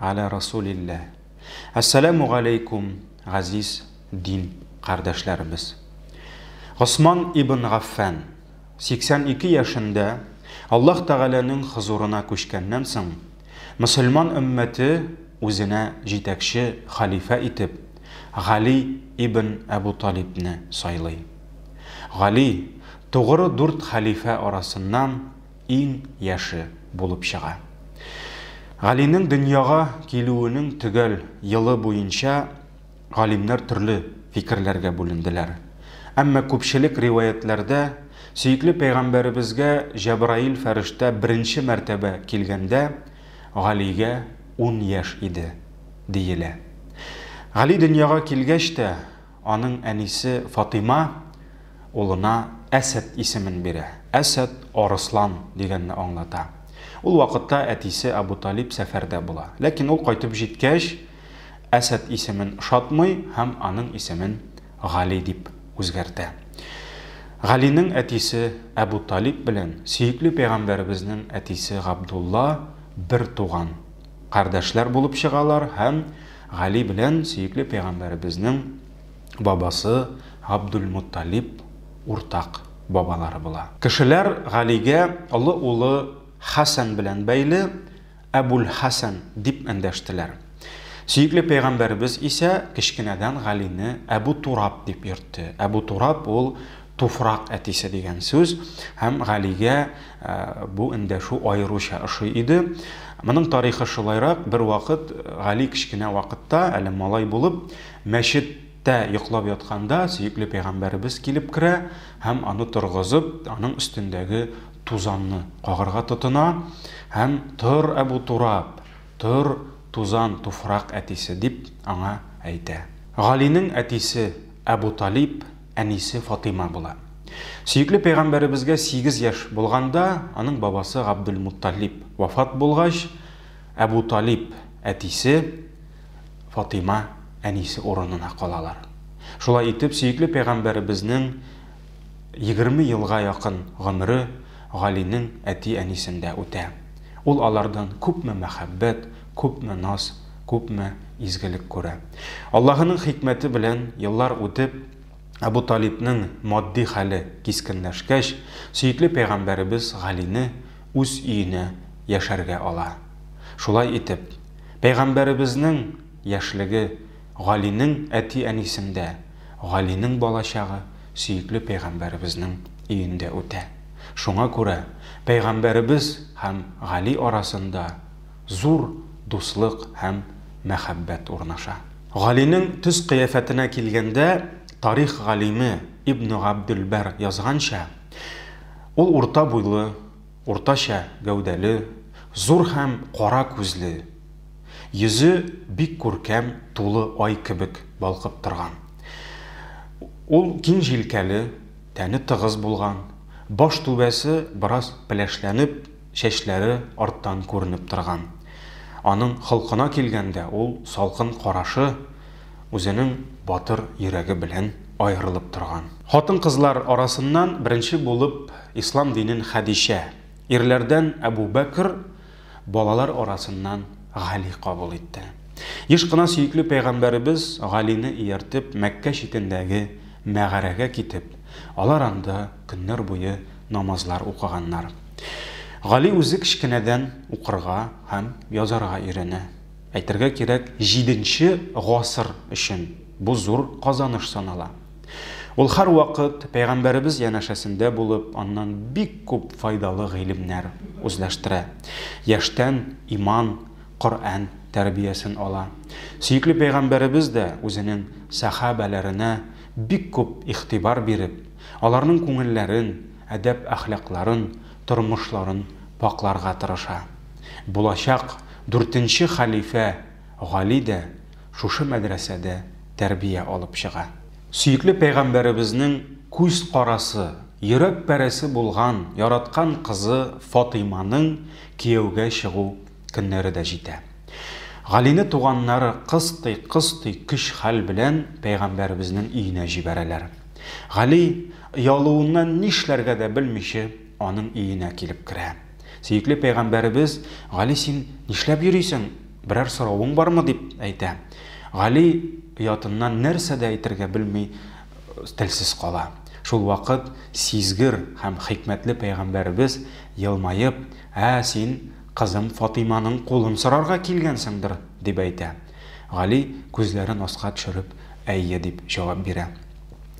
Аля Расулилля. Әссәләмү галәйкүм, газиз дин кардәшләребез. Госман ибн Гаффән, 82 яшендә Аллаһ Тәгаләнең хозурына күчкәннән соң, мөселман өммәте үзенә җитәкче халифә итеп Гали ибн Әбу Талибне сайлый. Гали, тугры дүрт халифә арасыннан иң яше булып чыга. Галинең дөньяга килүенең төгәл елы буенча галимнәр төрле фикерләргә бүленделәр. Әмма күпчелек риваятьләрдә сөекле пәйгамбәребезгә Җәбраил фәрештә беренче мәртәбә килгәндә Галигә ун яшь иде, диелә. Гали дөньяга килгәч тә, Аның әнисе Фатыйма улына Әсәд исемен бирә. Әсәд, арыслан, дигәнне аңлата. Ул вакытта әтисе Әбу Талиб сәфәрдә була. Ләкин ул кайтып җиткәч, Әсәд исемен ошатмый һәм аның исемен Гали дип үзгәртә. Галинең әтисе Әбу Талиб белән сөекле пәйгамбәребезнең әтисе Габдулла бертуган кардәшләр булып чыгалар һәм Гали белән сөекле пәйгамбәребезнең бабасы Габдулмотталиб уртак бабалары була. Кешеләр Галигә олы улы Хәсән белән бәйле Әбүл-Хәсән дип эндәштеләр. Сөекле пәйгамбәребез исә кечкенәдән Галине Әбу Тураб дип йөртте. Әбу Тураб ул Туфрак әтисе дигән сүз һәм Галигә бу эндәшү аеруча ошый иде. Моның тарихы шулайрак, бервакыт Гали кечкенә вакытта, әле малай булып, мәчет тә йоклап ятканда сөекле пәйгамбәребез килеп керә һәм аны торгызып, аның өстендәге тузанны кагырга тотына һәм Тор, Әбу Тураб, тор, тузан, туфрак әтисе, дип аңа әйтә. Галинең әтисе Әбу Талиб әнисе Фатыйма була. Сөекле пәйгамбәребезгә сигез яшь булганда, аның бабасы Габдулмутталиб вафат булгач, Әбу Талиб әтисе, Фатыйма әнисе урынына калалар. Шулай итеп, сөекле пәйгамбәребезнең егерме елга якын гомере Галинең әти-әнисендә үтә. Ул алардан күпме мәхәббәт, Күпме наз, күпме изгелек күрә. Аллаһының хикмәте белән, еллар үтеп, Әбу Талибның матди хәле кискенләшкәч, сөекле пәйгамбәребез Галине үз өенә яшәргә ала. Шулай итеп, пәйгамбәребезнең яшьлеге Галинең әти-әнисендә, Галинең балачагы сөекле пәйгамбәребезнең өендә үтә. Шуңа күрә пәйгамбәребез һәм Гали арасында Зур дуслык һәм мәхәббәт урнаша. Галинең төс-кыяфәтенә килгәндә, тарих галиме Ибн Габделбәр язганча, ул урта буйлы, уртача гәүдәле, зур һәм кара күзле, йөзе бик күркәм тулы ай кебек балкып торган. Ул киң җилкәле, тәне тыгыз булган, баш түбәсе бераз пеләшләнеп, чәчләре арттан күренеп торган. Аның холкына килгәндә, ул салкын карашы үзенең батыр йөрәге белән аерылып торган. Хатын-кызлар арасыннан беренче булып ислам динен Хәдичә, ирләрдән Әбүбәкер, балалар арасыннан Гали кабул итте. Еш кына сөекле пәйгамбәребез Галине ияртеп Мәккә читендәге мәгарәгә китеп, алар анда көннәр буе намазлар укыганнар. Гали үзе кечкенәдән укырга һәм язарга өйрәнә. Әйтергә кирәк, җиденче гасыр өчен бу зур казаныш санала. Ул һәрвакыт Пәйгамбәребез янәшәсендә булып, аннан бик күп файдалы гыйлемнәр үзләштерә. Яшьтән иман, Коръән тәрбиясен ала. Сөекле Пәйгамбәребез дә үзенең сәхабәләренә бик күп игътибар биреп, Аларның күңелләрен, әдәп-әхлакларын, тормышларын пакъларга тырыша. Булачак дүртенче хәлифә Гали дә шушы мәдрәсәдә тәрбия алып чыга. Сөекле пәйгамбәребезнең күз карасы, йөрәк пәрәсе булган яраткан кызы Фатыйманың кияүгә чыгу көннәре дә җитә. Галине туганнары кыстый-кыстый көч-хәл белән пәйгамбәребезнең өенә җибәрәләр. Гали, оялуыннан нишләргә дә белмичә, аның өенә килеп керә. Сөекле пәйгамбәребез, Гали, син нишләп йөрисең, берәр соравың бармы, дип әйтә. Гали оятыннан нәрсә дә әйтергә белми, телсез кала. Шул вакыт сизгер һәм хикмәтле пәйгамбәребез, елмаеп, Ә, син Кызым Фатыйманың кулын сорарга килгәнсеңдер, дип әйтә. Гали, күзләрен аска төшереп, Әйе, дип җавап бирә.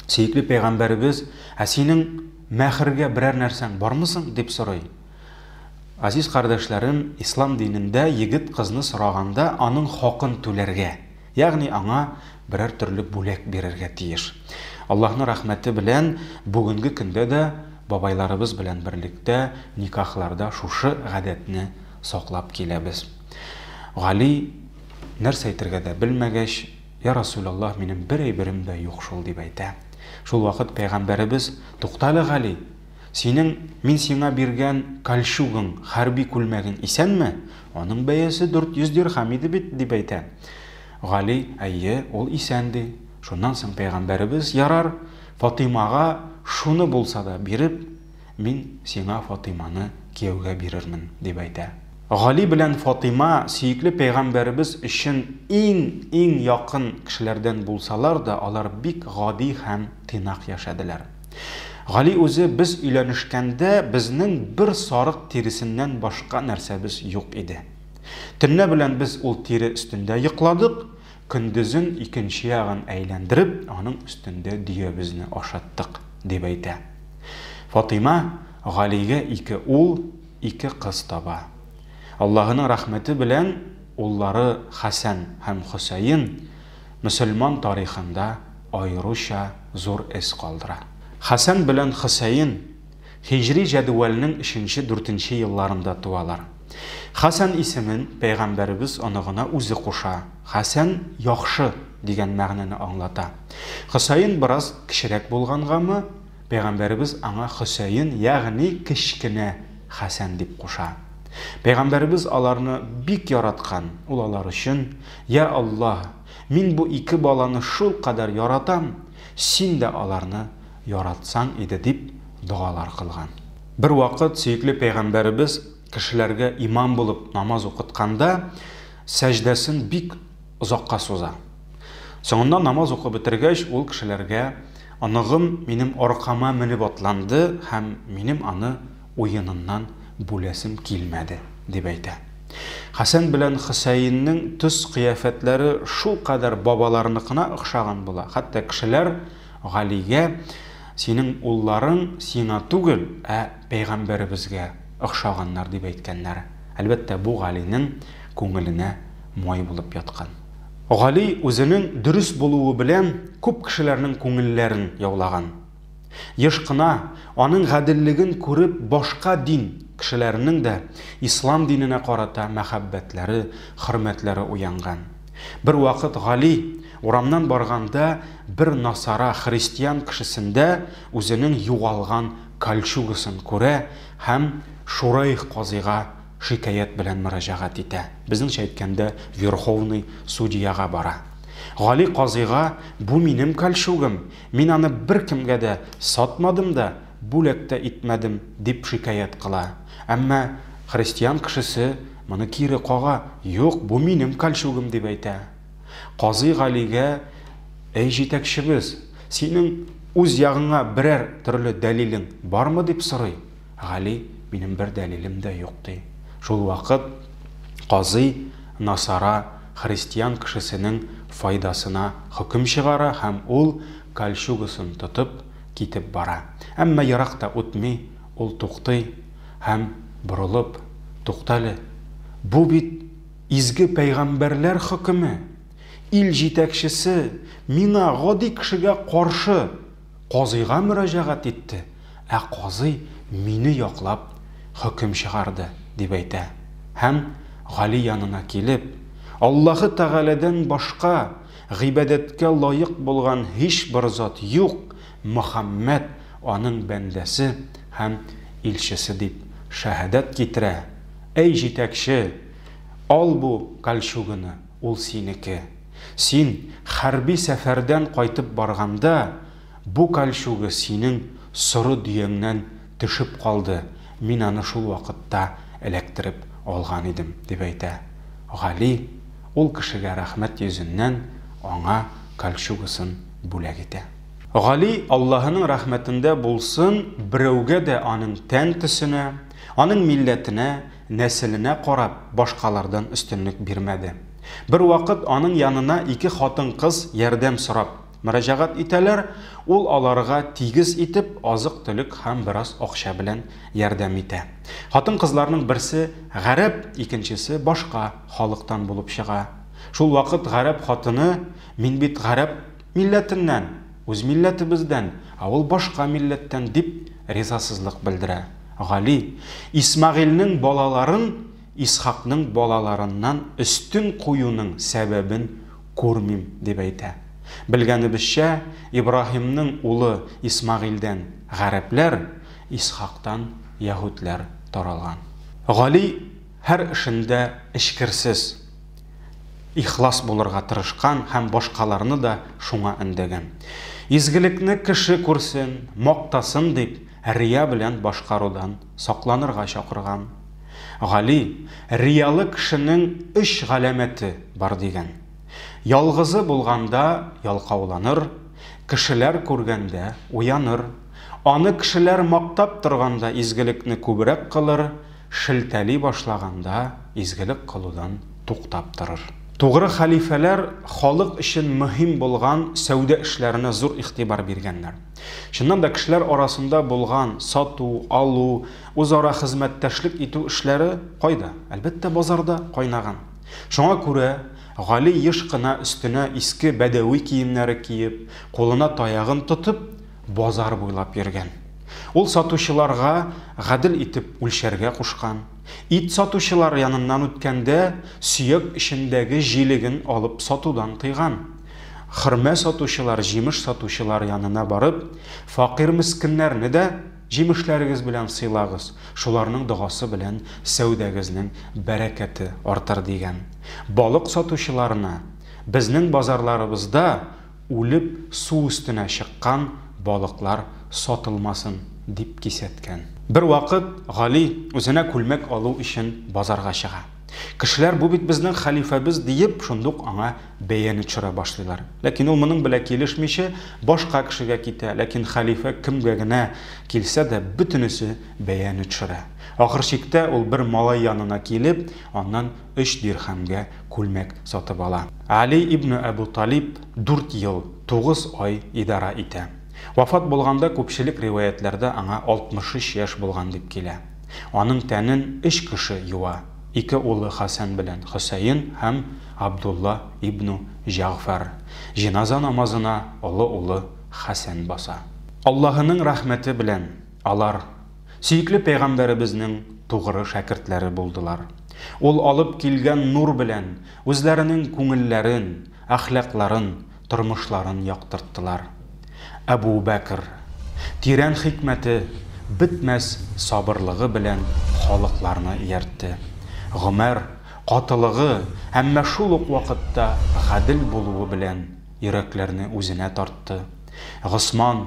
Сөекле пәйгамбәребез, Ә синең мәһргә берәр нәрсәң бармы соң? дип сорый. Азиз кардәшләрем, ислам динендә егет кызны сораганда, аның хакын түләргә. Ягъни аңа берәр төрле бүләк бирергә тиеш. Аллаһның рәхмәте белән бүгенге көндә дә бабайларыбыз белән берлектә никахларда шушы гадәтне саклап киләбез. Гали, нәрсә әйтергә дә белмәгәч, Йә Расүләллаһ, минем бер әйберем дә юк шул, дип әйтә. Шулвакыт пәйгамбәребез, Туктале, Гали! Синең мин сиңа биргән кальчугың, хәрби күлмәгең исәнме? Аның бәясе 400 дирхам иде бит, дип әйтә. Гали, Әйе, ул исән, ди. Шуннан соң пәйгамбәребез, Ярар, Фатыймага шуны булса да биреп, мин сиңа Фатыйманы кияүгә бирермен, дип әйтә. Гали белән Фатыйма сөекле пәйгамбәребез өчен иң-иң якын кешеләрдән булсалар да, алар бик гади һәм тыйнак яшәделәр. Гали үзе без өйләнешкәндә безнең бер сарык тиресеннән башка нәрсәбез юк иде. Төнлә белән без ул тире өстендә йокладык, көндезен икенче ягын әйләндереп, аның өстендә дөябезне ашаттык, дип әйтә. Фатыйма Галигә ике ул, ике кыз таба. Аллаһының рәхмәте белән уллары Хәсән һәм Хөсәен мөселман тарихында аеруча зур эз калдыра. Хәсән белән Хөсәен һиҗри җәдвәлнең өченче-дүртенче елларында туалар. Хәсән исемен пәйгамбәребез оныгына үзе куша, Хәсән, яхшы, дигән мәгънәне аңлата. Хөсәен бераз кечерәк булгангамы, пәйгамбәребез аңа Хөсәен, ягъни кечкенә Хәсән дип куша. Пәйгамбәребез аларны бик яраткан, ул алар өчен Йа Аллаһ, мин бу ике баланы шулкадәр яратам, Син дә аларны яратсаң иде, дип догалар кылган. Бервакыт сөекле пәйгамбәребез кешеләргә имам булып намаз укытканда, сәҗдәсен бик озакка суза. Соңыннан намаз укып бетергәч, ул кешеләргә, Оныгым минем аркама менеп атланды һәм минем аны уеныннан бүләсем килмәде, дип әйтә. Хәсән белән Хөсәеннең төс-кыяфәтләре шулкадәр бабаларыныкына охшаган була, хәтта кешеләр Галигә, Синең улларың сиңа түгел, ә пәйгамбәребезгә охшаганнар, дип әйткәннәр. Әлбәттә, бу Галинең күңеленә май булып яткан. Гали үзенең дөрес булуы белән күп кешеләрнең күңелләрен яулаган. Еш кына, аның гаделлеген күреп, башка дин кешеләренең дә ислам диненә карата мәхәббәтләре, хөрмәтләре уянган. Бервакыт Гали, урамнан барганда, бер насара, христиан кешесендә үзенең югалган кольчугасын күрә һәм Шурайх казыйга шикаять белән мөрәҗәгать итә, безнеңчә әйткәндә, верховный судьяга бара. Гали казыйга, Бу минем кольчугым! Мин аны беркемгә дә сатмадым да, бүләк тә итмәдем, дип шикаять кыла. Әмма христиан кешесе моны кире кага, Юк, бу минем кальчугым, дип әйтә. Казый Галигә, Әй җитәкчебез, синең үз ягыңа берәр төрле дәлилең бармы, дип сорый. Гали, минем бер дәлилем дә юк, ди. Шул вакыт казый насара христиан кешесенең файдасына хөкем чыгара һәм ул, кольчугасын тотып, китеп бара. Әмма ерак та үтми, ул туктый һәм, борылып, Туктале, бу бит изге пәйгамбәрләр хөкеме! Ил җитәкчесе миңа, гади кешегә, каршы! Казыйга мөрәҗәгать итте, ә казый мине яклап хөкем чыгарды, дип әйтә һәм, Гали янына килеп, Аллаһы Тәгаләдән башка гыйбадәткә лаек булган һичбер зат юк, Мөхәммәд аның бәндәсе һәм илчесе дип шәһадәт китерә, әй җитәкче, ал бу кальчуганы, ул синеке. Син хәрби сәфәрдән кайтып барганда, бу кальчуга синең соры дөяңнән төшеп калды, мин аны шул вакытта эләктереп алган идем, дип әйтә Гали, ул кешегә рәхмәт йөзеннән аңа кальчугасын бүләк итә. Гали, Аллаһының рәхмәтендә булсын, берәүгә дә аның тән төсенә, аның милләтенә Нәселенә карап, башкалардан өстенлек бирмәде. Бервакыт аның янына ике хатын-кыз ярдәм сорап мөрәҗәгать итәләр, ул аларга тигез итеп азык-төлек һәм бераз акча белән ярдәм итә. Хатын-кызларның берсе гарәп, икенчесе башка халыктан булып чыга. Шулвакыт гарәп хатыны, Мин бит гарәп! Милләтеннән, үз милләтебездән, ә ул башка милләттән, дип ризасызлык белдерә. Гали, Исмәгыйльнең балаларын Исхакның балаларыннан өстен куюның сәбәбен күрмим, дип әйтә. Белгәнебезчә, Ибраһимның улы Исмәгыйльдән гарәпләр, Исхактан яһүдләр таралган. Гали. Һәр эшендә эчкерсез, ихлас булырга тырышкан һәм башкаларны да шуңа өндәгән. Изгелекне кеше күрсен, мактасын дип, рия белән башкарудан сакланырга чакырган. Гали, Риялы кешенең өч галәмәте бар дигән. Ялгызы булганда ялкауланыр, кешеләр күргәндә уяныр. Аны кешеләр мактап торганда изгелекне күбрәк кылыр. шелтәли башлаганда изгелек кылудан туктап торыр. Тугры хәлифәләр халык өчен мөһим булган сәүдә эшләренә зур игътибар биргәннәр. Чыннан да, кешеләр арасында булган сату, алу, үзара хезмәттәшлек итү эшләре кайда? Әлбәттә, базарда кайнаган. Шуңа күрә Гали еш кына өстенә иске бәдәви киемнәре киеп, кулына таягын тотып, Базар буйлап йөргән. Ул сатучыларга гадел итеп үлчәргә кушкан. Ит сатучылар яныннан үткәндә, сөяк эчендәге җилеген алып сатудан тыйган. Хөрмә сатучылар, җимеш сатучылар янына барып, факир-мескеннәрне дә җимешләрегез белән сыйлагыз, шуларның догасы белән сәүдәгезнең бәрәкәте артыр, дигән. Балык сатучыларына, Безнең базарларыбызда Үлеп су өстенә чыккан балыклар сатылмасын, дип кисәткән. Бервакыт Гали үзенә күлмәк алу өчен базарга чыга. Кешеләр, бу бит безнең хәлифәбез, диеп, шундук аңа бәяне төшерә башлыйлар. Ләкин ул моның белә килешмичә, башка кешегә китә, ләкин хәлифә кемгә генә килсә дә, бөтенесе бәяне төшерә. Ахыр чиктә ул бер малай янына килеп, аннан өч дирхәмгә күлмәк сатып ала. Али ибн Әбү Талиб дүрт ел, тугыз ай идарә итә. Вафат булганда күпчелек риваятьләрдә аңа 63 яшь булган дип килә. Аның тәнен өч кеше юа, ике улы Хәсән белән Хөсәен һәм Абдулла ибн Җәгъфәр. Җеназа намазына олы улы Хәсән баса. Аллаһының рәхмәте белән. Алар, сөекле Пәйгамбәребезнең тугры шәкертләре булдылар. Ул алып килгән нур белән үзләренең күңелләрен, әхлакларын, тормышларын яктырттылар. Әбу Бәкер, тирән хикмәте, бетмәс сабырлыгы белән халыкларны ияртте. Гомәр, катылыгы, әмма шул ук вакытта гадел булуы белән йөрәкләрне үзенә тартты. Госман,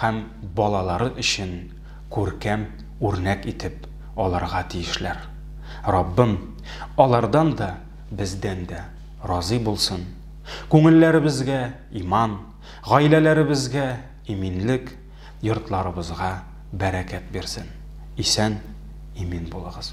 һәм балалары өчен күркәм үрнәк итеп алырга тиешләр. Раббым алардан да, бездән дә разый булсын, күңелләребезгә иман, гаиләләребезгә иминлек, йортларыбызга бәрәкәт бирсен. Исән, имин булыгыз.